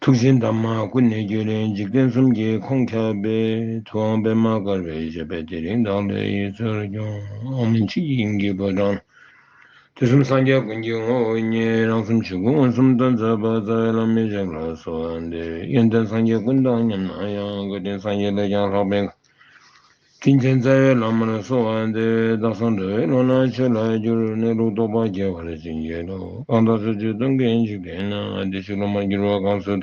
ཐུགས་ཆེན་འདབ་མ་ཀུན་ནས་རྒྱུ་རུ་འཇིག་རྟེན་གསུམ་གྱི་ཁོང་ཁྱབ་པའི་ཐུའང་པདྨ་དཀར་པོའི་བཞད་པས་དེ་རིང་བདག་འདྲའི་ཡུལ་ཚོར་སྐྱོངས་མི་མཆིས་དབྱིངས་ཀྱི་ཕོ་བྲང་དུས་གསུམ་སངས་རྒྱས་ཀུན་གྱི་ངོ་བོ་ཉིད་རང་གསུམ་ཆོས་སྐུ་མངོན་སུམ་དུ་མཛད་པ་རྩ་བའི་བླ་མེད་བཞག་ལ་སོགས་འདིར་ཡོན་ཏན་སངས་རྒྱས་ཀུན་དང་མཉམ་ན་ཡང་དགའ་ལྡན་སངས་རྒྱས་ལས་ཀྱང་ལྷག་པའི་དྲིན་ཆེན་རྩ་བའི་བླ་མར་གསོལ་བ་འདེབས། བདག་སོགས་འདྲ་བའི་བློ་སྣང་ཆོས་ལ་བསྒྱུར། གནས་ལུགས་རྟོགས་པ་རྒྱས་པར་བྱིན་གྱིས་རློབས། གང་དག་ཚུལ་འདུས་སྟོན་ཀའི་འཇིག་རྟེན་ན། བདེ་གཤེགས་སློབ་མར་འགྱུར་བ་གང་སུ་དག།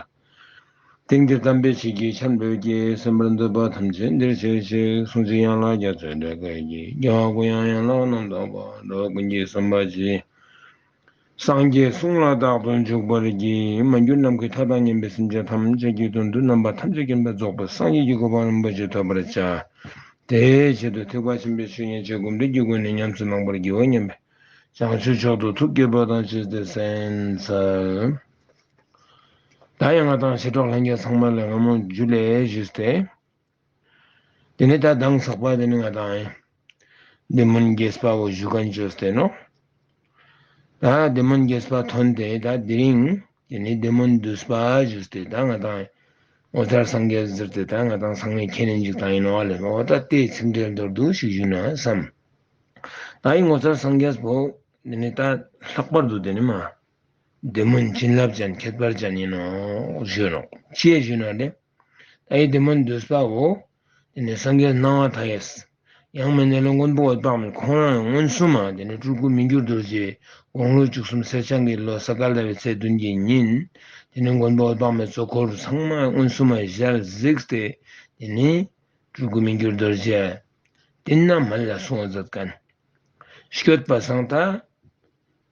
དེང་འདིར་དམ་པའི་ཆོས་ཀྱི་ཆར་འབེབས་ཀྱིས། སེམས་པར་འདོད་པ་ཐམས་ཅད་འདིར་བྱེད་ཅིག། གསུང་ཚིག་ཡན་ལག་རྒྱ་མཚོའི་སྒྲ་སྐད་ཀྱིས། རྒྱལ་བ་ཀུན་ཡང་ཡན་ལག་རྣམ་དག་པ། འགྲོ་བ་ཀུན་གྱི་སེམས་པ་གཅིག། སངས་རྒྱས་གསུང་ལ་རྟག་ཏུ་འཇུག་པར་བགྱི། མ་གྱུར་ནམ་མཁའི་མཐའ་དང་མཉམ་པའི་སེམས་ཅན་ཐམས་ཅད་ཀྱི་དོན་དུ་རྣམ་པ་ཐམས་ཅད་མཁྱེན་པ་རྫོགས་པའི་སངས་རྒྱས་ཀྱི་གོ་འཕང་རིན་པོ་ཆེ་ཐོབ་པར་བྱ། དེའི་ཆེད་དུ་ཐེག་པ་ཆེན་པོའི་ཆོས་མཉན་བྱས་སྒོམ་འདྲེན་གྱི་སྒོ་ནས་ཉམས་སུ་བླང་པར་བགྱིའོ་སྙམ་པས། བྱང་ཆུབ་མཆོག་ཏུ་ཐུགས་བསྐྱེད་འབོད་དང་བཅས་ཏེ་གསན། བདག་ཡང་ང་དང་ཞི་ཁྲོ་ལྷན་རྒྱས་ཚང་མ་ལས་སྔ་མོ་རྒྱུད་ལས་བཞི་སྟེ། དེ་ནི་ད་ལྡང་ཚགས་པ་དེ་ནི་ང་དང་ཡིན། དེ་མུན་རྒྱས་པ་བོ་བཞུགས་ག་འཇོ་སྟེ་ནོ། ད་དེ་མུན་རྒྱས་པ་ཐོན་ཏེ་ད་དེ་རིང་དེ་ནི་དེ་མུན་བསྡུས་པ་བཞུགས་སྟེ་ད་ང་དང་ཡིན། ངོ་མཚར་སངས་རྒྱས་སུ་གྱུར་ཏེ་ད་ང་དང་ཚང་མས་ཁྱེད་ནི་འཇུག་དང་ཡིན་ནོ་ལེ་བའོ་ད་ལྟའི་ཚིག་འགྲེལ་མདོར་བསྡུ་ཞིག་ཞུས་ན་བསམ། ད་ཡིན་ངོ་མཚར་སངས་རྒྱས་བོ། དེ་ནི་ད་ལྷག་པར་དུ་དེ་ནི་མ། དེ་མུན་བྱིན་རླབས་ཅན་ཁྱད་པར་ཅན་ཡིན་ནོ། ཞེས་ཞུས་ན་ལེ། ད་ཡིད་དེ་མ་འདོད་སའོ། དེ་ནས་སངས་རྒྱས་སྣང་བ་དག་ཡས། ཡང་མི་གནས་ལུང་མགོན་པོ་འོད་དཔག་མེད་ཁོང་རང་ཡང་མངོན་སུམ་མ་དེ་ནས་སྤྲུལ་སྐུ་མི་འགྱུར་རྡོ་རྗེའི་དགོངས་ལུགས་བཅུ་གསུམ་གསེར་བྱང་གི་ལོ་སཱཀྵ་ལྟ་བའི་ཚེས་བདུན་གྱི་ཉིན། དེ་ནས་མགོན་པོ་འོད་དཔག་མེད་གཙོ་འཁོར་ཚང་མ་མངོན་སུམ་མ་ཞལ་གཟིགས་ཏེ། དེ་ནས་སྤྲུལ་སྐུ་མི་འགྱུར་རྡོ་རྗེ། འདི་རྣམས་མ་ལ་སྲུང་བ་ཛབ྄་ཀན། བསྐྱོད་པ་སངས་ཐ།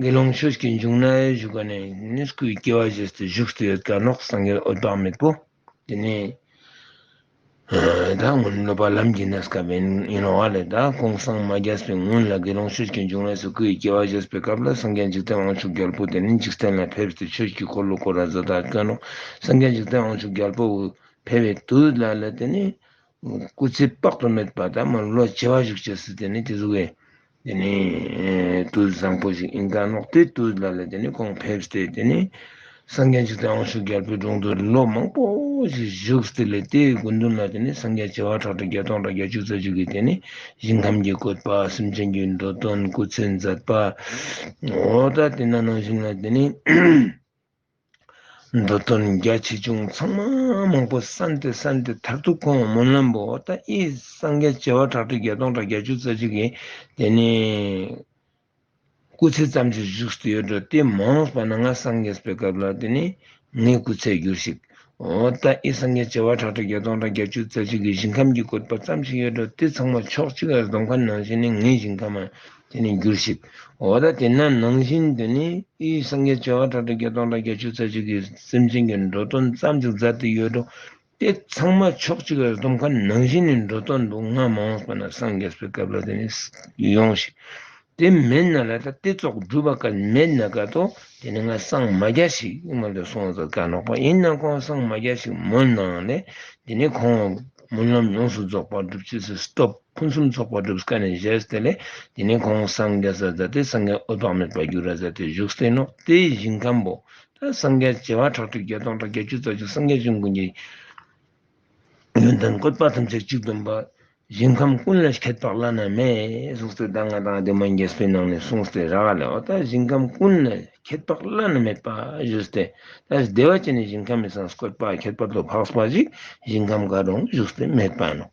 དགེ་སློང་ཆོས་སྐྱོན་བྱུང་ན་བཞུགས་པ་ནས་ནི་སྐུའི་སྐྱེ་བ་བཞེས་སུ་བཞུགས་སུ་ཡོད་བཀའ་ནོག་སངས་རྒྱས་འོད་དཔག་མེད་པོ་དེ་ནས་ད་སྔོན་སློབ་པ་ལམ་གྱི་ན་སྐལ་པའི་ཡིན་ནོ་བ་ལས་ད་ཀོང་གསང་མ་རྒྱལ་སོའི་སྔོན་ལ་དགེ་སློང་ཆོས་སྐྱོན་བྱུང་བས་སུ་སྐུའི་སྐྱེ་བ་བཞེས་པའི་སྐབས་ལ་སངས་རྒྱས་འཇིག་རྟེན་དབང་ཕྱུག་རྒྱལ་པོ་དེ་ནི་འཇིག་རྟེན་ལ་ཕེབས་སུ་ཆོས་ཀྱི་འཁོར་ལོ་བསྐོར་བ་བཟོ་དང་བཀའ་ནོག་སངས་རྒྱས་འཇིག་རྟེན་དབང་ཕྱུག་རྒྱལ་པོ་ཕེབས་པའི་དུས་ལ་ལ་དེ་ནི། སྐུ་ཚེ་དཔག་ཏུ་མེད་པ་དང་མི་ལོ་བྱེ་བ་ཞིག་བྱས་སྲིད་དེ་ནི་དེ་གཟུགས་ཀྱི་དེ་ནི་བདུད་བཟང་པོ་ཞིག་ཡིན་ཀ་ནོག་དེའི་བདུད་ལ་ལ་དེ་ནི་གོང་ཕེབས་སྟེ་དེ་ནི་སངས་རྒྱས་ཆུ་ཚན་འོང་ཤུགས་རྒྱལ་པོའི་དྲུང་དུ་ལོ་མང་པོ་ཞིག་བཞུགས་སྟེ་ལས་དེའི་དགོས་འདུན་ལ་དེ་ནི་སངས་རྒྱས་བྱེ་བ་ཕྲག་ཁྲི་བརྒྱ་སྟོང་ཕྲག་བརྒྱ་བཅུ་རྩ་བཅུ་གིས་དེ་ནི་ཞིང་ཁམས་ཀྱི་བཀོད་པ་སེམས་ཅན་གྱི་འགྲོ་དོན་སྐུ་ཚེ་མཛད་པའོ། ད་དེ་ན་ནང་བཞིན་ལ་དེ་ནི། འགྲོ་དོན་རྒྱ་ཆེ་ཆུང་ཚང་མ་མང་པོ་ས་འདི་ས་འདི་མཐར་ཐུག་ཁོང་སྨོན་ལམ་པོ་ད་ཨི་སངས་རྒྱས་བྱེ་བ་ཁྲག་ཁྲིག་བརྒྱ་སྟོང་ཕྲག་བརྒྱ་བཅུ་རྩ་གཅིག་གི་དེ་ནས་སྐུ་ཚེ་ཙམ་ཞིག་བཞུགས་སུ་ཡོད་འགྲོ་དེ་མ་འོངས་པ་ན་ང་སངས་རྒྱས་པའི་སྐབས་ལ་དེ་ནས་ངའི་སྐུ་ཚད་འགྱུར་ཞིག། ད་ཨི་སངས་རྒྱས་བྱེ་བ་ཕྲག་ཁྲི་བརྒྱ་སྟོང་དང་བརྒྱད་ཅུ་རྩ་གཅིག་གི་ཞིང་ཁམས་ཀྱི་བཀོད་པ་ཙམ་ཞིག་ཡོད་དོ་དེ་ཚང་མ་ཕྱོགས་གཅིག་ལ་སྡོམ་ཁ་ནང་བཞིན་ནི་ངའི་ཞིང་ཁམས་དེ་ནི་འགྱུར་ཞིག་འོ་ད་དེ་ན་ནང་བཞིན་དུ་ནི་ཨི་སངས་རྒྱས་བྱེ་བ་ཕྲག་ཁྲི་བརྒྱ་སྟོང་དང་བརྒྱད་ཅུ་རྩ་གཅིག་གི་སེམས་ཅན་གྱི་འགྲོ་དོན་ཙམ་ཞིག་མཛའ་དེ་ཡོད་དོ་དེ་ཚང་མ་ཕྱོགས་གཅིག་ལ་སྡོམ་ཁ་ནང་བཞིན་ནི་འགྲོ་དོན་དུ་ང་མ་འོངས་པ་ན་སངས་རྒྱས་པའི་སྐབས་ལ་དེ་ནི་ཡོང་ཞིག་དེ་མེད་ན་ལ་དྭགས་ཏེ་ཙོག་སྦྲུལ་པ་ཀ་མེད་ན་ཀ་ཏོ་དེ་ནི་ང་སངས་མ་བརྒྱ་ཞིག་སྔོན་དུ་སོང་ཟེར་ཀ་ནོག་པ་ཡིན་ན་ཁོང་སངས་མ་བརྒྱ་ཞིག་མོ་གནང་ནས་དེ་ནི་ཁོང་སྨོན་ལམ་ཡོངས་སུ་རྫོགས་པར་སྒྲུབ་ཅེས་ཟེར་སྟོབས་ཕུན་སུམ་ཚོགས་པར་སྒྲུབས་ཀ་ནས་བཞེས་ཏེ་ལས་དེ་ནི་ཁོང་སངས་རྒྱ་ཟ་ཟ་སྟེ་སངས་རྒྱ་འོད་དཔག་མེད་པར་འགྱུར་ར་ཟ་སྟེ་བཞུགས་སྟེ་ནོག་ཏའི་ཞིང་ཁམས་པོ་ཏཱ་སངས་རྒྱ་བྱེ་བ་ཁྲག་ཁྲིག་བརྒྱ་སྟོང་ཕྲག་བརྒྱད་ཅུ་རྩ་བཅུ་སངས་རྒྱ་བཅུ་མགོན་གྱི། ཡོན་ཏན་བཀོད་པ་ཐམས་ཅད་གཅིག་ཏུ་འབར། ཞིང་ཁམས་ཀུན་ལ་ཁྱད་རྟོགས་བླ་ན་མེད། སོགས་ཚིག་དང་ལྔ་དང་བདུན་མ་འགྱེད་བཟོད་གནང་ནས་གསུངས་སྟེ་ར་བ་ལས་འོ་ད་ཞིང་ཁམས་ཀུན་ལ་ཁྱད་རྟོགས་བླ་ན་མེད་པ་བཞུགས་སྟེ། ད་ཞིག་བདེ་བ་ཅན་ནི་ཞིང་ཁམས་མི་ཚངས་བཀོད་པ་ཁྱད་པར་དུ་འཕགས་པ་ཞིག་ཞིང་ཁམས་མཁའ་འགྲོ་བཞུགས་སྟེ་སྨྲས་པ། ནོ།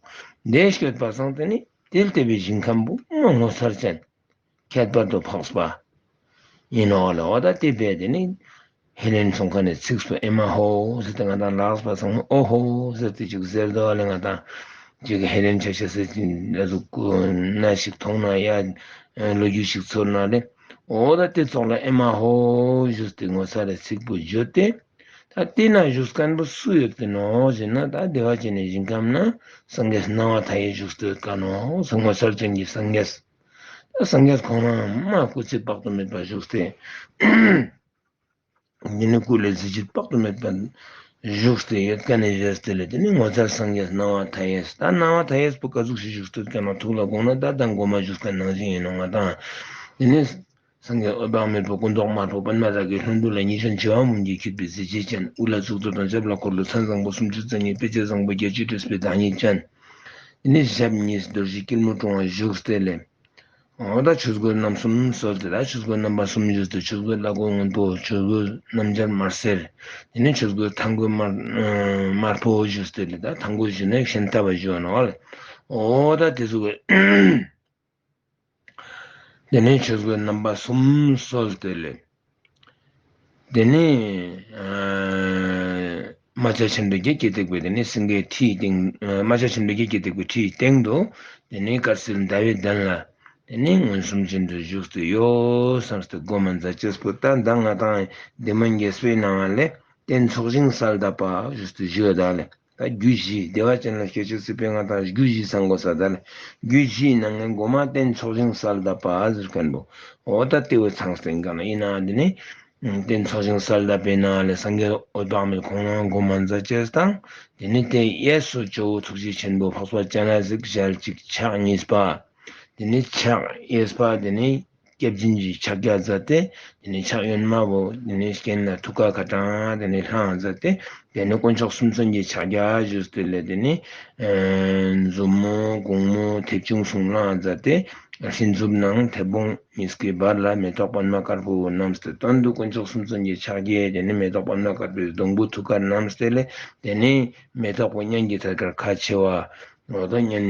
བདེ་གཤེགས་པ་གསང་སྟེ་ནི་དེ་ལྟ་བུའི་ཞིང་ཁམས་བུ་མོ་ངོ་མཚར་ཅན། ཁྱད་པར་དུ་འཕགས་པ་ཡིན་ནོ། ལ་ཨོ་ད་ཏི་པས་དེ་ནི་ཧེ་ལེན་ཚོང་ཁང་ནས་ཚིགས་སུ་ཨེ་མ་ཧོ་ཟེར་ཏེ་ང་དང་ལགས་པ་ཚང་མ་ཨོ་ཧོ་ཟེར་ཏེ་བཅུག་ཟེར་དོ་ལེ་ང་དང་བཅུག་གི་ཧེ་ལེན་ཆ་ཤ་ཟེར་གྱི་ཨ་ཟུག་གུ་ན་ཞིག་མཐོང་ན་ཡ་ལོ་རྒྱུས་ཞིག་ཚོར་ན་ལེ་ཨོ་ད་ཏི་ཚོགས་ལ་ཨེ་མ་ཧོ་བཞུགས་ཏེ་ངོ་ཚ་ལེ་ཚིགས་པོ་བརྗོད་དེ། ད་ཏི་ན་བཞུགས་སྐལ་པོ་སུ་ཡོད་ཀྱི་ནོ་ཞེ་ན་ད་བདེ་བ་ཅན་ནས་ཞིང་ཁམས་ན་སངས་རྒྱས་སུ་སྣང་བ་ད་ཡིས་བཞུགས་སྟོད་དཀའ་ནོ་ཞེས་ངོ་ཚར་ཅན་གྱི་སངས་རྒྱས། སངས་རྒྱས་གང་ལའང་སྨྲ་སྐུ་ཚེ་དཔག་ཏུ་མེད་པ་བཞུགས་ཏེ། འདི་ནི་སྐུ་ལས་ཚེ་ཕྱི་དཔག་ཏུ་མེད་པ་བཞུགས་སྟེ་ཡོད་དཀའ་ནི་བཞེར་ཏེ་ལས་དེ་ནི་ངོ་མཚར་སངས་རྒྱས་སྣང་བ་མཐའ་ཡས་སུ་དང་སྣང་བ་མཐའ་ཡས་པོ་དཀའ་གཟུགས་སུ་བཞུགས་སྟེ་བསྐལ་མ་ཐུགས་ལ་དགོངས་ན་བདག་དང་སྒོ་མ་བཞུགས་པའི་ནང་བཞིན་ཡིན་ནོ་ང་དང་འདི་ནི། སངས་རྒྱས་འོད་དཔག་མེད་པའི་སྐུ་མདོག་དམར་པོ་པདྨ་རཱ་གའི་ལྷུན་པོ་ལ་ཉི་ཤར་མཆེ་བ་མུ་འགྱེད་འཁྱུད་པའི་གཟི་བརྗིད་ཅན་དབུ་ལ་གཙུག་ཏོར་དང་ཞབས་ལ་འཁོར་ལོ་ཚན་བཟང་པོ་སུམ་ཅུ་རྩ་གཉིས་དཔེ་བྱད་བཟང་པོ་བརྒྱད་ཅུས་སྤྲས་པའི་བདག་ཉིད་ཅན། དེ་ནས་ཞབས་གཉིས་སུ་རྡོ་རྗེ་སྐྱིལ་མོ་ཀྲུང་བ་བཞུགས་སྟེ་ལས། འོག་ཏུ་ཆོས་གོས་རྣམ་གསུམ་གསོལ་ཏེ་ད་ཆོས་གོས་རྣམ་པ་སུམ་བཞི་སྟེ་ཆོས་གོས་བླ་གོས་སྔོན་པོ་ཆོས་གོས་སྣམ་སྦྱར་དམར་སེར། དེ་ནས་ཆོས་གོས་མཐང་གོས་དམར་པོ་བཞུགས་སྟེ་ལས། ད་མཐང་གོས་བཞུགས་ནས་ཤིང་རྟ་བ་བཞུགས་ནའོ། འོག་ཏུ་དེ་གཟུགས། དེ་ནས་ཆོས་སྐུའི་རྣམ་པ་གསུམ་གསོལ་ཏེ་ལེགས། དེ་ནས་རྨ་བྱ་ཆེན་པོའི་རྒྱལ་གྱིས་བཏེགས་པའི་དེ་ནས་སེང་གེའི་ཁྲིའི་སྟེང། རྨ་བྱ་ཆེན་པོའི་རྒྱལ་གྱིས་བཏེགས་པའི་ཁྲིའི་སྟེང་དུ། དེ་ནས་དཀར་སིལ་ཟླ་བའི་གདན་ལ། དེ་ནས་མངོན་སུམ་ཅན་དུ་བཞུགས་སྟེ་གཡོ། སངས་རྒྱས་སྒོ་མ་འཛག་བྱེད་སྐུ་རྟ་མདའ་ལྔ་དང་སྡེ་མ་འགྱེད་སྤེལ་སྣང་བ་ལས། རྟེན་ཚོགས་བྱིན་བསལ་དག་པ་བཞུགས་སྟེ་བཞུགས་བདག་ལས། དང་རྒྱུད་བཞི་བདེ་བ་ཅན་ལ་སྐད་ཅིག་སྲིད་པའི་ང་དང་རྒྱུད་བཞི་ས་མགོ་ས་དར་རྒྱུད་བཞིའི་ནང་ངེས་མགོ་མ་བསྟན་ཚོགས་བྱིན་གསར་གདབ་པ་ཟེར་ག་འདུག་འོ་ད་ལྟེ་འོད་ཚང་སེང་ག་ན་ཨི་ན་དེ་ནས་བསྟན་ཚོགས་བྱིན་གསར་གདབ་པའི་ནང་ལས་སངས་རྒྱས་འོད་དཔག་མེད་ཁོང་རང་སྒོ་མ་མཛའ་བཅས་དང་དེ་ནས་དེ་གཡས་སུ་ཇོ་བོ་ཐུགས་རྗེ་ཆེན་པོ་འཕགས་པ་སྤྱན་རས་གཟིགས་ཞལ་གཅིག་ཕྱག་གཉིས་པ་དེ་ནས་ཕྱག་གཡས་པ་དེ་ནས། སྐྱབས་སྦྱིན་གྱི་ཕྱག་རྒྱ་མཛད་དེ། དེ་ནས་ཕྱག་གཡོན་དམར་པོ། དེ་ནས་གྱེན་ལ་ཐུགས་ཀར་ཁ་དྲང། དེ་ནས་ལྷའང་མཛད་དེ། དེ་ནས་དཀོན་མཆོག་གསུམ་མཚོན་གྱི་ཕྱག་རྒྱ་བཞུགས། དེ་ལས་དེ་ནས། མཛུབ་མོ་གུང་མོ་མཐེབ་ཆུང་གསུང་ལྷའང་མཛད་དེ། ལྷའི་མཛུབ་ནང་མཐེ་བོང་མི་སྐྱེ་བར་ལ་མེ་ཏོག་པདྨ་དཀར་པོ་བསྣམས་ཏེ་སྟོན་ཏོ། དཀོན་མཆོག་གསུམ་མཚོན་གྱི་ཕྱག་རྒྱ། དེ་ནས་མེ་ཏོག་པདྨ་དཀར་པོའི་སྡོང་བུ་ཐུགས་ཀར་བསྣམས། དེ་ལས་དེ་ནས། མེ་ཏོག་པདྨ་གཉན་གྱི་ཐད་ཀར་ཁ་བྱེ་བ། ལོ་ཏོག་གཉན།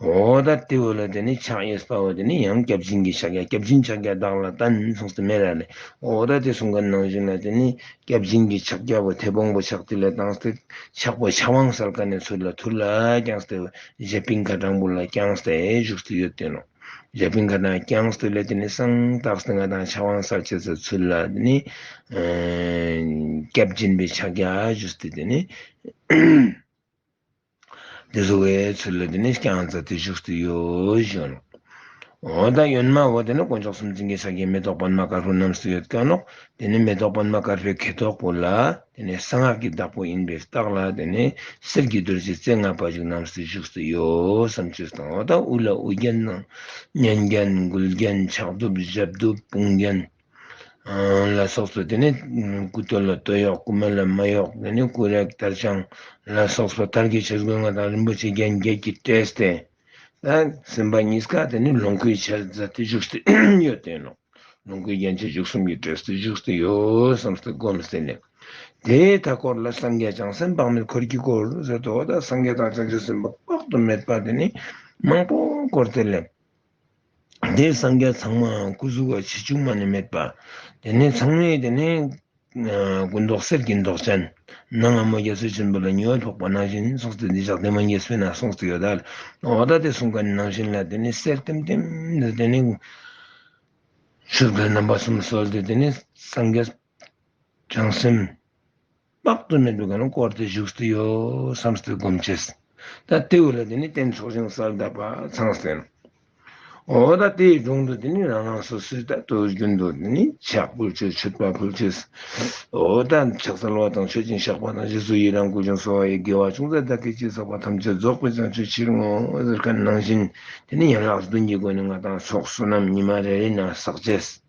འོ་ད་ལྟེའུ་ལ་དེ་ནི་ཕྱག་གཡས་སུ་བལྟ་བ་དེ་ནི་ཡང་སྐྱབས་སྦྱིན་གྱི་ཕྱག་རྒྱ་སྐྱབས་སྦྱིན་ཕྱག་རྒྱ་བདག་ལ་ལྟ་ན་ནི་མཚུངས་སུ་མེད་ལ་ལས་འོ་ད་ལྟེ་གསུམ་ཀའི་ནང་བཞིན་ལ་དེ་ནི་སྐྱབས་སྦྱིན་གྱི་ཕྱག་རྒྱ་བོ་དྷེ་བོང་བུ་ཕྱག་ཐིག་ལེ་དང་སྟེ་ཕྱག་བུ་ཕྱག་དབང་སར་ཀ་ནས་ཚུར་ལ་ཐུར་ལ་བརྐྱང་སྟེ་བཞད་པིང་ཁ་སྦྲང་བུ་ལ་བརྐྱང་སྟེ་བཞུགས་སུ་ཡོད་དེ་ནོ། བཞད་པིང་ཁ་སྦྲང་བརྐྱང་སྟེ་ལས་དེ་ནི་གསང་བདག་སེང་ག་དང་ཕྱག་དབང་སར་བྱས་སོ་ཚུར་ལ་དེ་ནི་སྐྱབས་སྦྱིན་པའི་ཕྱག་རྒྱ་བཞུགས་སྟེ་དེ་ནི། འདི་ཟོ་བའི་ཚུལ་ལ་འདི་ནི་རྐྱང་རྩ་དེ་བཞུགས་སུ་ཡོད་ཤོད་ལོ། འོ་ད་ཡོན་མ་འོ་དེ་ནི་དཀོན་མཆོག་གསུམ་འཛིན་གྱི་ཕྱག་རྒྱའི་མེ་ཏོག་པདྨ་དཀར་པོ་རྣམས་སུ་ཡོད་སྐྱོན་ནོ། འདི་ནི་མེ་ཏོག་པདྨ་དཀར་པོའི་གད་ཐོག་པོ་ལ། འདི་ནི་གསང་སྔགས་ཀྱི་བདག་པོ་ཡིན་པས་བརྟགས་ལ་འདི་ནི་གསེར་གྱི་རྡོ་རྗེ་རྩེ་ལྔ་པ་བཞུགས་རྣམས་སུ་བཞུགས་སུ་ཡོད་བསམ་ཚུལ་དང་འོ་ད་དབུ་ལ་དབུ་རྒྱན། སྙན་རྒྱན་མགུལ་རྒྱན་ཕྱག་གདུབ་ཞབས་གདུབ་དཔུང་རྒྱན། ལ་སོགས་སོ་དེ་ནི་སྐུ་སྟོད་ལ་སྟོད་གཡོགས་སྐུ་སྨད་ལ་སྨད་གཡོགས་དེ་ནི་སྐུ་རེག་དར་དཔྱངས་ལ་སོགས་སོ་དར་གྱི་ཕྱིར་སྒོ་ལྔ་དང་རིན་པོ་ཆེ་རྒྱན་བརྒྱད་ཀྱིས་སྤྲས་ཏེ། སེམས་དཔའ་གཉིས་ཀ་དེ་ནི་ལོངས་སྐུའི་ཕྱིར་རྫ་སྟེ་བཞུགས་སྟེ་ཡོད་དེ། ལོངས་སྐུའི་རྒྱན་ཆ་བཞུགས་གསུམ་གྱིས་སྤྲས་སྟེ་བཞུགས་སྟེ་ཡོད་བསམས་སྟེ་བསྒོམས་ཟིན་ནས། དེའི་མཐའ་སྐོར་ལ་སངས་རྒྱས་བྱང་སེམས་དཔག་མེད་འཁོར་གྱི་སྐོར་ཟེར་ཏོ། སངས་རྒྱས་དང་བྱང་ཆུབ་སེམས་དཔའ་དཔག་ཏུ་མེད་པ་དེ་ནི་མང་པོ་སྐོར་དེ་ལས། དེས་སངས་རྒྱས་ཚང་མའང་སྐུ་གཟུགས་བར་ཆད་ཆུང་མ་ནི་མེད་པ། དེ་ནས་ཚང་མས་དེ་ནི་སྐུ་མདོག་གསེར་གྱི་མདོག་ཅན། ནང་སྔ་མོ་རྒྱ་མཚོའི་ཆུན་པོ་ལ་ཉི་འོད་ཕོག་པ་ནང་བཞིན་ནི་སོགས་ཚུལ་འདི་ཕྱག་མཐིལ་མ་ངེས་བསོད་ནམས་སོགས་ཚིག་ཡོད་དཱ། འོག་ད་དེ་གསུངས་པ་ནི་ནང་བཞིན་ལ་དེ་ནི་གསེར་ལྟེམ་ལྟེམ། དེ་ནི་ཆུ་བོའི་རྣམ་པ་གསུམ་གསོལ་ཏེ་དེ་ནི་སངས་རྒྱས། བྱང་སེམས། དཔག་ཏུ་མེད་པའི་སྒོ་ནས་བསྐོར་ཏེ་བཞུགས་སུ་ཡོད་བསམ་སྟེ་བསྒོམ་བྱས། ད་ལྟའི་བར་ལ་དེ་ནི་རྟེན་མཆོག་ཆུང་སར་གདབ་པ་ཚང་ཟིན། འོ་ད་ལྟའི་སྒྲུང་དུ་དེ་ནི་རང་རང་སོ་སོའི་ལྟ་སྟོད་རྒྱུན་དུ་དེ་ནི་ཕྱག་ཕུལ་ཆོས་མཆོད་དཔའ་ཕུལ་ཆོས། འོ་ད་ཕྱག་འཚལ་བ་དང་མཆོད་སྦྱིན་བཤགས་པ་དང་རྗེས་སུ་ཡི་རང་བསྐུལ་ཅིང་གསོལ་བ་ཡི་དགེ་བ་ཅུང་ཟད་བདག་གིས་ཅི་བསགས་པ་ཐམས་ཅད་རྫོགས་པའི་བྱང་ཆུད་ཕྱིར་བསྔོ་ཟེར་ག་ནང་བཞིན་དེ་ནི་ཡན་ལག་བདུན་གྱི་སྒོ་ནས་ང་དང་ཚོགས་བསོད་ནམས་ཉི་མ་རེ་རེ་ན་བསགས་བྱས།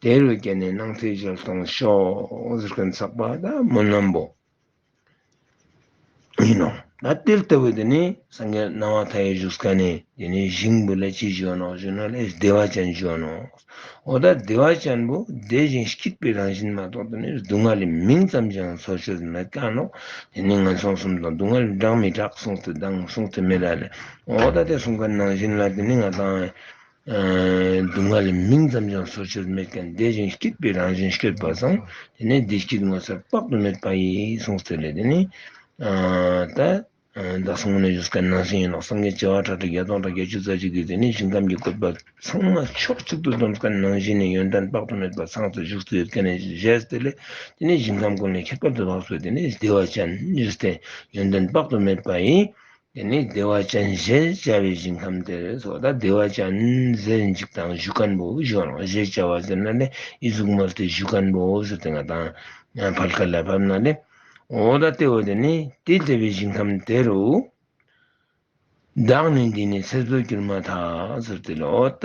དེ་ལོ་བརྒྱད་ནས་སྣང་ཚེ་འཇལ་གཏོང་ཤོག་ཟེར་མཁན་ཚགས་པ་ད་མོ་རྣམས་པོ་ཡིན་ནོ། ད་དེ་ལྟ་བུ་དེ་ནི་སངས་རྒྱས་སྣང་བ་མཐའ་ཡས་བཞུགས་ས་ཀ་ནས་དེ་ནས་བཞེངས་བུ་ལ་ཅི་བྱོན་ནོ་ཞུ་ན་ལས་བདེ་བ་ཅན་བྱོན་ནོ། འོ་ད་བདེ་བ་ཅན་པོ་དེ་བཞིན་གཤེགས་པའི་རང་བཞིན་མ་གཏོགས་དེ་ནི་སྡུག་བསྔལ་ལས་མིང་ཙམ་གྱིས་ཡང་འཚོ་བྱེད་དུ་མི་བསྟན་ནོ། དེ་ནི་ངན་སོང་གསུམ་དང་སྡུག་བསྔལ་ལས་བསྒྲགས་མི་བསྒྲགས་གསུང་དུ་བསྡང་གསུང་དུ་མི་བསྡང་ལས་འོ་ད་དེ་གསུང་པའི་རྣང་བཞིན་ལ་དེ་ནི་ང་དང། སྡུག་བསྔལ་ལས་མིང་ཙམ་ཀྱང་བཟོ་བཅོས་མེད་ཀྱང་བདེ་ཞིང་སྐྱིད་པའི་རང་བཞིན་ཤོད་པ་དང་དེ་ནས་བདེ་སྐྱིད་ངོ་མཚར་དཔག་ཏུ་མེད་པ་ཡིན་གསུངས་ཚུལ་ལས་དེ་ནི། བདག་སོང་གནས་བཞུགས་སྐལ་ནང་ཞིང་ཡིན་ལོག་སངས་རྒྱས་བྱེ་བ་ཁྲག་ཁྲིག་བརྒྱ་སྟོང་དང་བརྒྱད་ཅུ་རྩ་གཅིག་གིས་དེ་ནས་ཞིང་ཁམས་ཀྱི་བཀོད་པ་ཚང་མ་ཕྱོགས་གཅིག་ཏུ་བསྡོམས་སྐལ་ནང་ཞིང་ནས་ཡོན་ཏན་དཔག་ཏུ་མེད་པ་ཚང་དུ་བཞུགས་སུ་ཡོད་སྐལ་ནས་བཞེས་ཏེ་ལས་དེ་ནས་ཞིང་ཁམས་ཀུན་ལས་ཁྱད་པར་དུ་འཕགས་སོ་དེ་ནས་བདེ་བ་ཅན་བཞུགས་སྟེ་ཡོན་ཏན་དཔག་ཏུ་མེད་པ་ཡིན་འདི་ནི་བདེ་བ་ཅན་ཞེས་བྱ་བའི་ཞིང་ཁམས་དེར་སོགས་དང་བདེ་བ་ཅན་ཟེར་འཇིག་དང་གཞུ་སྐམ་པོ་བཞུགས་ན་ལེགས་ཞེས་བྱ་བ་ཟེར་ན་ལེགས་ཡིད་གཟུགས་མ་བསྟོད་གཞུ་སྐམ་པོ་སུ་དེ་ང་དང་བར་སྐལ་ལ་བབ་ན་ལེགས། འོ་ད་ལྟེ་བ་དེ་ནི་དེ་བདེ་བའི་ཞིང་ཁམས་དེ་རུ། བདག་ནི་འདི་ནི་ཚེ་རྫོགས་གྱུར་མ་ཐག་སུ་དེ་ལ་འོ་ད